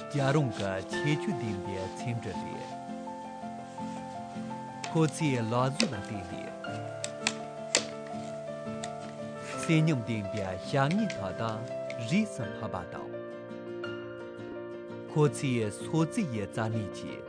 རྒྱ་རོང་གི་ཆེ་ཆུ་ལྡན་པའི་མཚེའུ་འདྲ་རེད། ཁོ་ཚོས་ལག་བཟོས་ལ་བརྟེན་ནས། བསོད་སྙོམས་ལྡན་པའི་བྱ་ངན་དག་དང་རིས་སུ་ཕབ་པ་དང། ཁོ་ཚོས་སོ་རྩི་ཡི་རྩ་སྣོད་བྱས།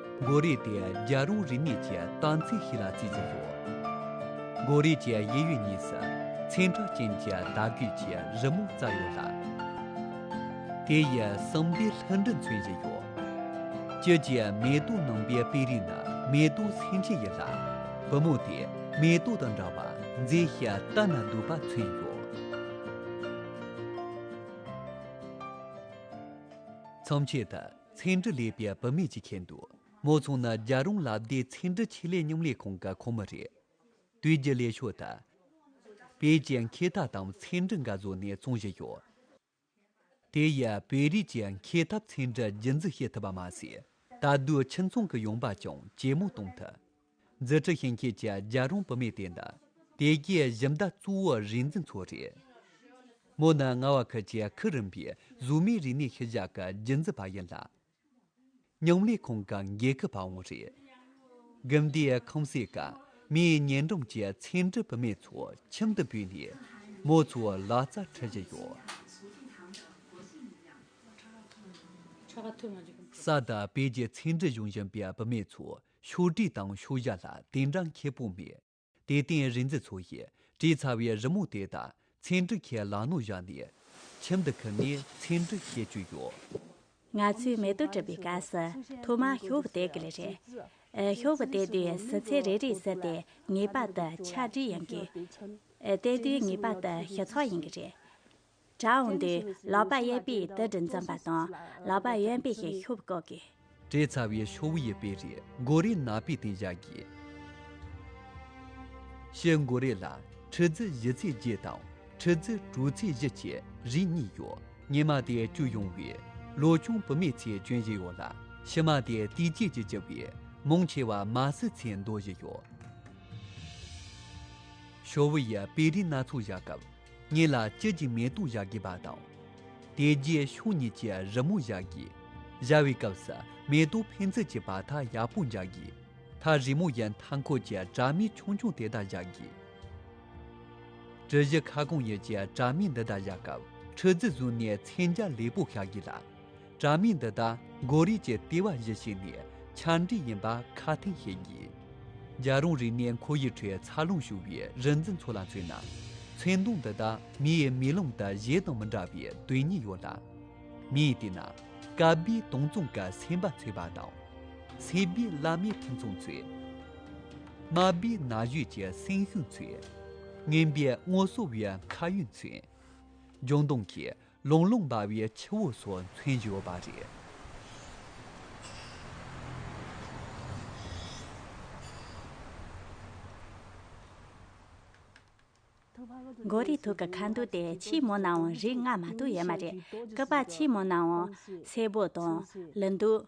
མགོ་རིལ་དེ་རྒྱ་རོང་རིག་གནས་ཀྱི་དམ་ཚིག་ཞིག་ལ་བརྩི་བཞིན་ཡོད། མགོ་རིལ་གྱི་དབྱེ་ཡུལ་གཉིས་སུ་མཚན་འཕྲུལ་ཅན་གྱི་དར་རྒུད་ཀྱི་རི་མོ་བཙའ་ཡོད་ལ། དེ་ཡི་གསང་བདེ་ལྷུན་གྲུབ་མཚོན་བཞིན་ཡོད། དཔྱིད་ཀྱི་མེ་ཏོག་ནང་པའི་དཔེ་རིས་ནི་མེ་ཏོག་སེང་ཆེན་ཡིན་ལ། བུ་མོ་དེས་མེ་ཏོག་དང་འདྲ་བར་མཛེས་ཤིང་ལྟ་ན་སྡུག་པ་མཚོན་ཡོད། མཚམས་ཆད་དུ། ཚེ་འདྲི་ལས་པའི་བུད་མེད་ཅིག་ཁེལ་འདུག་མོ་ཚང་ནི་རྒྱ་རོང་ལ་བདེ་ཚེ་འདྲི་ཆེད་ལས་སྙོམ་ལས་ཁང་གི་ཁོངས་མི་རེད། དུས་རྒྱུན་ལས་ཤོག་དང། བེད་ཀྱི་འཁེལ་འཐབ་དང་ཚེ་འདྲི་འགའ་བཟོས་ནས་བཙོང་བཞིན་ཡོད། དེ་ཡིས་བོད་རིགས་ཀྱི་འཁེལ་འཐབ་ཚེ་འདྲི་རྒྱུན་འཛིན་བྱེད་ཐུབ་པ་མ་ཟད། ད་དུས་ཁྱིམ་ཚང་གི་ཡོང་འབབ་ཀྱང་ཇེ་མང་གཏོང་ཐུབ། རྫུ་འཕྲུལ་ཞིང་སྐྱེས་ཀྱི་རྒྱལ་རོང་བུད་མེད་དེ་འདྲ། དེ་གའི་གཞི་མདའ་གཙོ་བོ་རིག་འཛིན་ཚོ་རེད། མོ་ནི་རྔ་བ་ཁུལ་གྱི་ཁུག་རིམ་པའི་གཟུགས་མེད་རིག་གནས་ཤུལ་བཞག་གི་རྒྱུན་འཛིན་པ་ཡིན་ལ། སྙིང་ལས་ཁང་གི་འགན་ཁུར་པའང་རེད། དགེ་འདུན་ཁང་སྲས་ཀརྨའི་ཉེ་འགྲམ་གྱི་ཚེ་འབྲུག་བུད་མེད་ཚོ་ཁྱིམ་དུ་བུད་ནས་མོ་ཚོའི་ལག་རྩལ་འཁྲིད་བཞིན་ཡོད། ས་དང་དཔལ་གྱི་ཚེ་འབྲུ་གཞུང་བཞིན་པའི་བུད་མེད་ཚོས་ཕྱོགས་བསྒྲིགས་དང་ཕྱོགས་བཞག་ལ་དེ་འདྲ་མཁས་པོ་མེད། དེ་སྟེང་རིག་འཛིན་ཚོ་ཡིས་བྲིས་ཚར་བའི་རི་མོ་དེ་དག་ཚེ་འབྲུག་ཁས་ལག་ནོར་བཞག་ནས། ཁྱིམ་དུ་ཁུར་ནས་ཚེ་འབྲུག་བཤད་བཅུག་ཡོད། ང་ཚོས་མེ་ཏོག་བྲིས་པའི་སྐབས་སུ་ཐོག་མར་ཤོག་བུ་བཏེག་གི་ལེ་རེད། ཤོག་བུ་བཏེག་དུས་ཟུར་ཚད་རེ་རེའི་ཟུར་དེ་ངེས་པར་དུ་ཆ་བྲིས་ཡིན་དགོས། བཏེག་དུས་ངེས་པར་དུ་ཞི་ཚགས་ཡིན་གྱི་རེད། གྲྭ་འོངས་དུས་ལག་པ་གཡས་པས་དུད་སྦྲུལ་འཛིན་པ་དང་ལག་པ་གཡོན་པས་ཤེལ་ཤུབས་བཀོག་དགོས། བྲེ་ཚ་བའི་ཤོག་བུ་ཡི་པེ་རི་མགོ་རའི་ནག་པའི་སྟེང་བཞག་དགོས། ཤེལ་མགོ་རས་ལ་ཁྲི་རྫི་བཞི་ཚེས་བརྒྱད་དང་ཁྲི་རྫི་དྲུག་ཚེས་བཞི་བཅས་རིགས་གཉིས་ཡོད། སྙེ་མ་དེ་བསྐྱུར་ཡོང་བས་ལོ་ཆུང་བུད་མེད་ཚོས་གྱོན་བཞིན་ཡོད་ལ་ཕྱི་མ་དེ་དུས་བཅད་ཀྱིས་བཅུ་བས་མང་ཆེ་བ་མ་སྲི་ཚོས་འདོར་བཞིན་ཡོད། ཤོག་བུ་ཡི་པེ་རི་སྣ་ཚོགས་བཞག་སྐབས། གཉིས་ལ་དཔྱིད་ཀྱི་མེ་ཏོག་བཞག་གི་པ་དང། དེ་རྗེས་ཕྱོགས་གཉིས་ཀྱི་རི་མོ་བཞག་གི། བཞག་བའི་སྐབས་སུ་མེ་ཏོག་ཕན་ཚུན་གྱི་བར་ཐག་ཡག་པོ་འཇགས་གི། མཐར་རི་མོ་ཡི་མཐའ་འཁོར་གྱི་བྲག་མིག་ཆུང་ཆུང་དེ་དག་བཞག་གི། གྲུ་བཞི་ཁ་སྐོང་ཡུལ་གྱི་བྲག་མིག་འདི་དག་བཞག་སྐབས་ཁྲི་རྫི་བཟུང་ནས་མཚན་རྒྱ་ལེགས་པོ་ཤར་གི་ལ། དྲ་མིག་འདི་དག་མགོ་རིལ་གྱི་ལྟེ་བ་བཞི་ཞིག་ནས་ཆ་འདྲིས་ཡིན་པ་ཁ་ཐེངས་ཤེས་ངེས། རྒྱ་རོང་རིག་གནས་མཁོ་དབྱིབས་ཁྲོད་འཚར་ལོངས་བྱུང་བའི་རིག་འཛིན་ཚོ་ལ་མཚོན་ན། མཚན་གདོང་འདི་དག་མིའི་མིག་ལམ་དུ་གཞན་དང་མི་འདྲ་བའི་དོན་སྙིང་ཡོད་ལ། མིས་བལྟས་ན་དཀར་པོའི་སྟོང་རྩོམ་གྱི་སེམས་པ་འཚེར་བ་དང། སེར་པོའི་བླ་མའི་ཕུན་ཚོགས་མཚོན། དམར་པོའི་ན་གཞོན་གྱི་སེམས་ཤུགས་མཚོན། སྔན་པོའི་སྔོ་སོ་བའི་མཁའ་དབྱིངས་མཚོན། ལྗང་གདོང་གིས་ལུང་ལུང་འབར་བའི་ཆུ་བོ་སོགས་མཚོན་གྱི་ཡོད་པ་རེད། མགོ་རིལ་དུག་གི་ཁ་འདུག་དེ་ཕྱི་མོ་ནའང་རིགས་ལྔ་མ་གཏོགས་ཡོད་མ་རེད། སྐུད་པ་ཕྱི་མོ་ནའང་སེར་པོ་དང། ལི་འདུག།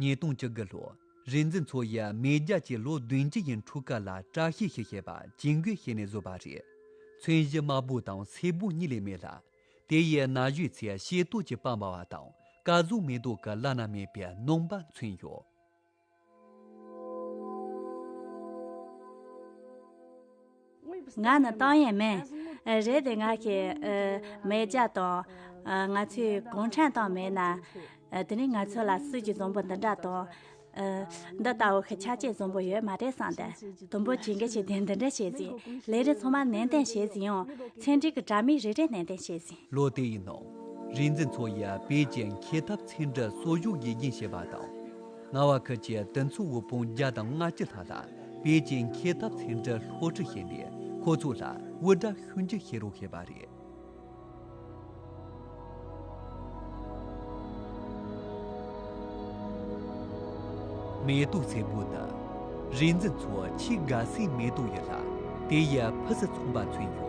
ཉིས་སྟོང་བཅུ་དགུ་ལོར་རིག་འཛིན་མཚོ་ཡི་མེས་རྒྱལ་གྱི་ལོ་བདུན་བཅུ་ཡི་འཁྲུག་སྐར་ལ་བཀྲ་ཤིས་ཤིག་ཞེས་པ་ཇིང་གུའི་ཞལ་ནས་བཟོས་པ་རེད། མཚོན་གཞི་དམར་པོ་དང་སེར་པོ་གཉིས་ལས་མེད་ལ། དེ་ཡི་ན་གཞོན་ཚོས་ཤེལ་རྡོག་གི་པགས་འབར་བ་དང་སྐལ་བཟང་མེ་ཏོག་གི་བླ་ན་མེད་པའི་སྣང་བ་མཚོན་ཡོད། ང་ནི་ཏང་ཡོན་མིན། རེད་དེ་ང་ཤི་མེད་ཀྱ་དང། ང་ཚོའི་གུང་ཁྲན་ཏང་མེད་ན། དེ་ནས་ང་ཚོ་ལ་སྲིད་ཀྱི་བཟང་པོ་འདི་འདྲ་དང། འདི་ལྟ་བུ་ཤི་ཆ་ཆེས་བཟང་པོ་ཡོད་མ་རེད་བསམ་སྟེ། དུམ་བུ་བྱེད་འགའ་ཤས་དེ་འདི་འདྲ་བྱས་ཟིན། ལས་རེ་ཚང་མ་ནན་ཏན་བྱས་ཟིན་ཡང། ཚན་སྒྲིག་གི་དྲ་མིག་རེ་རེ་ནན་ཏན་བྱས་ཟིན། ལོ་དེ་ཡི་ནང། རིག་འཛིན་མཚོ་ཡིས་པེ་ཅིང་ཁེ་ཐབ་ཚན་སྒྲིག་གསོ་བཞུགས་དགེ་རྒན་བྱས་པ་དང། རྔ་བ་ཁུལ་གྱི་དུས་མཚུངས་དབུལ་ཕོངས་བརྒྱ་དང་ལྔ་བཅུ་ལྷག་ལ་པེ་ཅིང་འཁེལ་འཐབ་ཚན་ཁྲི་ལྷོ་ཁྲི་ཞེས་པས་ཁོ་ཚོ་ལ་དབུལ་སྒྲ་ཤུན་གྱིས་ཤེས་རོགས་བྱས་པ་རེད། མེ་ཏོག་སེར་པོ་དག་རིག་འཛིན་མཚོ་ཆེ་དགའ་སའི་མེ་ཏོག་ཡིན་ལ་དེ་ཡི་ཕུ་ཟི་ཚོང་པ་མཚོན་ཡོད།